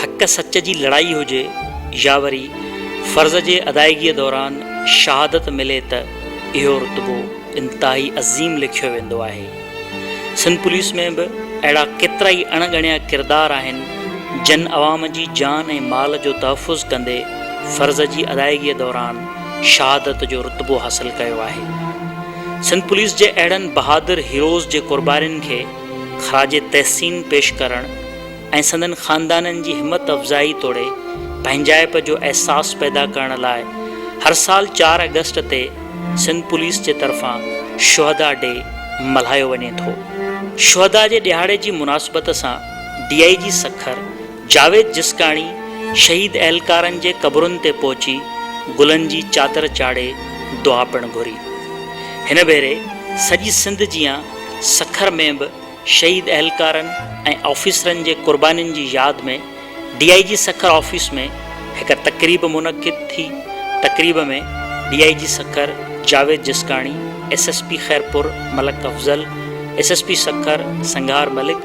حق سچ جي لڙائي هجي يا وري فرض جي ادائيگيء دوران شهادت ملي ته اهو رتبو انتهائي عظيم ليکيو ويندو آهي. سنڌ پوليس ۾ به اهڙا ڪيترائي اڻ ڳڻيا ڪردار آهن جن عوام جي جان ۽ مال جو تحفظ ڪندي فرض جي ادائيگي دوران شهادت جو رتبو حاصل ڪيو آهي. سنڌ پوليس جي اهڙن بهادر هيروز جي قربانين کي خراج تحسين پيش ڪرڻ، ۽ سندن خاندانن جي همت افزائي توڙي پنهنجائپ جو احساس پيدا ڪرڻ لاء هر سال چار آگسٽ تي سنڌ پوليس جي طرفان شهدا ڊي ملهايو وڃي ٿو. شهدا جي ڏهاڙي جي مناسبت سان D I G Sukkur Javed Jaskani شهيد اهلڪارن جي قبرن تي پهچي گلن جي چادر چاڙهي دعا پڻ گهري. هن ڀيري سڄي سنڌ جيان سکر ۾ به شهيد اهلڪارن ۽ آفيسرن جي قربانين جي ياد ۾ D I G Sukkur office ۾ هڪ تقريب منعقد ٿي، تقريب ۾ D I G Sukkur Javed Jiskani, S S P Khairpur Malik Afzal, S S P Sukkur Sanghar Malik,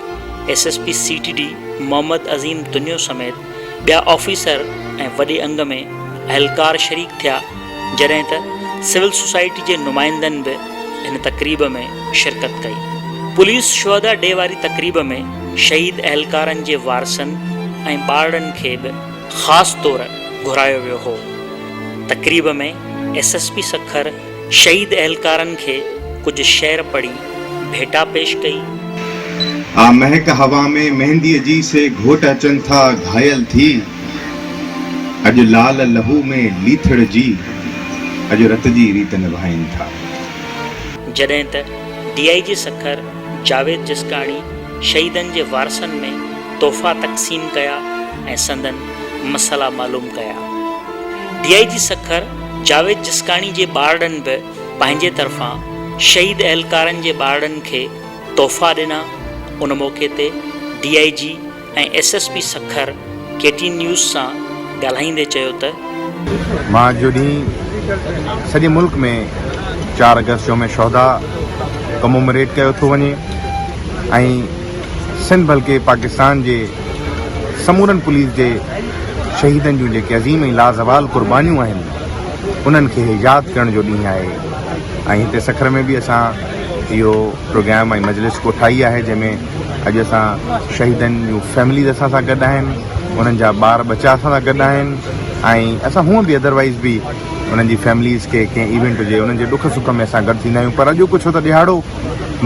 S S P C T D Muhammad Azeem Taniyo سميت ٻيا آفيسر ۽ وڏي انگ ۾ اهلڪار شريڪ ٿيا، جڏهن ته سول سوسائٽي جي نمائندن به. هن تقريب ۾ شرڪت ڪئي. پوليس شهدا ڊي واري تقريب ۾ شهيد اهلڪارن جي وارثن ۽ ٻارڙن کي به خاص طور گهرايو ويو هو. تقريب ۾ ايس ايس پي سکر شهيد اهلڪارن کي ڪجهه شعر پڙهي ڀيٽا پيش ڪئي. آ مهڪ هوا ۾ مهنديء جي سي گهوٽ اچن ٿا گهايل ٿي. اڄ لال لهو ۾ ليٿڙجي، اڄ رت جي ريت نڀائين ٿا. جڏهن ته D I G Sukkur Javed Jaskani شهيدن جي وارثن ۾ تحفا تقسيم ڪيا ۽ سندن مسئلا معلوم ڪيا. D I G Sukkur Javed Jaskani جي ٻارڙن به پنهنجي طرفان شهيد اهلڪارن جي ٻارڙن کي تحفا ڏنا. ان موقعي تي D I G. ۽ S S P Sukkur K T news سان ڳالهائيندي چيو ته. مان اڄ جو ڏينهن سڄي ملڪ ۾ چار اگست يوم شهدا ڪمومريٽ ڪيو ٿو وڃي ۽ سنڌ بلڪه پاڪستان جي سمورن پوليس جي شهيدن جون جيڪي عظيم ۽ لازوال قربانيون آهن انهن کي ياد ڪرڻ جو ڏينهن آهي ۽ هتي سکر ۾ به اسان اهو پروگرام ۽ مجلس ڪوٺائي آهي جنهن ۾ اڄ اسان شهيدن جون فيمليز اسان سان گڏ آهن انهن جا ٻار ٻچا اسان سان گڏ آهن ۽ اسان هونء به ادروائيز به انهن جي فيمليز کي ڪنهن ايونٽ هجي انهن جي ڏک سک ۾ اسان گڏ ٿيندا آهيون پر اڄوڪو ڇو ته ڏهاڙو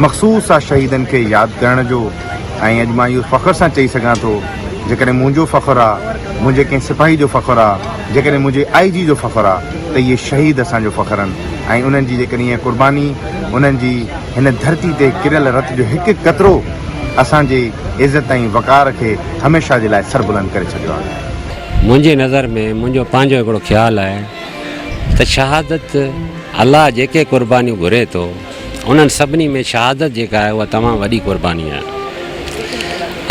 مخصوص آ شهيدن کي ياد ڪرڻ جو ۽ اڄ مان اهو فخر سان چئي سگهان ٿو جيڪڏهن منهنجو فخر آ منهنجي ڪنهن سپاهي جو فخر آ جيڪڏهن منهنجي آئي جي جو فخر آ ته اهي شهيد اسان جو فخر ان ۽ انهن جي جيڪڏهن اها قرباني انهن جي هن ڌرتي تي ڪريل رت جو هڪ هڪ قطرو اسان جي عزت ۽ وقار کي هميشه جي لاء سربلند ڪري ڇڏيو آهي. منهنجي نظر ۾ منهنجو پنهنجو هڪڙو خيال آهي ته شهادت الله جيڪي قربانيون گهري ٿو انهن سڀني ۾ شهادت جيڪا آهي اها تمام وڏي قرباني آهي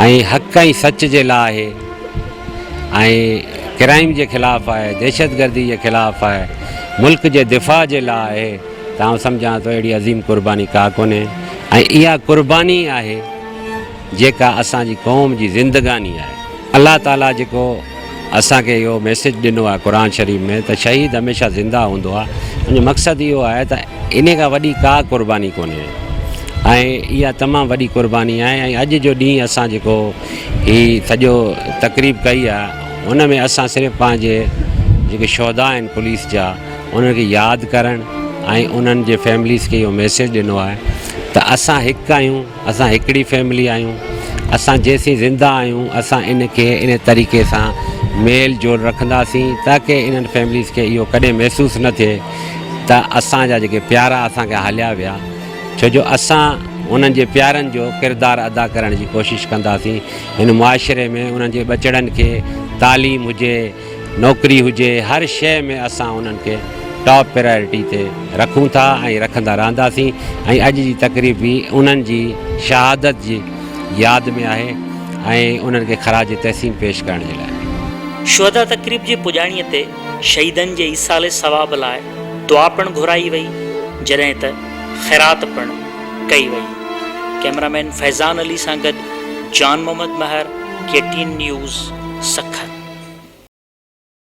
۽ حق ۽ سچ جي لاء آهي. ۽ ڪرائيم جي خلاف آهي، دهشتگردي جي خلاف آهي، ملڪ جي دفاع جي لاء آهي ته آئون سمجهان ٿو اهڙي عظيم قرباني ڪا ڪونهي ۽ اها قرباني ئي آهي جيڪا اسان جي قوم جي زندگاني آهي. الله تعاليٰ جيڪو اسان کي اهو ميسيج ڏنو آهي قرآن شريف ۾ ته شهيد هميشه زنده هوندو آهي ان جو مقصد اهو آهي ته انهي کان وڏي ڪا قرباني ڪونهي ۽ اها تمام وڏي قرباني آهي ۽ اڄ جو ڏينهن اسان جيڪو هي سڄو تقريب ڪئي آ ان ۾ اسان صرف پنهنجي جيڪي شهدا آهن پوليس جا انهن کي ياد ڪرڻ ۽ انهن جي فيمليز کي اهو ميسيج ڏنو آهي ته اسان هڪ آهيون اسان هڪڙي فيملي آهيون اسان جيسين زنده آهيون اسان ان کي ان طريقي سان ميل جول رکنداسين تاڪي انهن فيمليز کي اهو ڪڏهن محسوس نه ٿئي ته اسان جا جيڪي پيارا اسان کي هليا ويا ڇو جو اسان انهن جي پيارن جو ڪردار ادا ڪرڻ جي ڪوشش ڪنداسين، هن معاشري ۾ انهن جي ٻچڙن کي تعليم هجي، نوڪري هجي هر شيء ۾ اسان انهن کي ٽاپ پرائرٽي تي رکون ٿا ۽ رکندا رهنداسين ۽ اڄ جي تقريب به انهن جي شهادت جي ياد ۾ آهي ۽ انهن کي خراج تحسين پيش ڪرڻ جي لاء. شهدا تقريب جي پڄاڻيء تي شهيدن جي ايصال ثواب لاء دعا پڻ گهرائي وئي جڏهن ته خيرات پڻ ڪئي وئي. ڪئميرا مين فيضان علي سان گڏ Jan Muhammad Mehar, K T N news, Sukkur.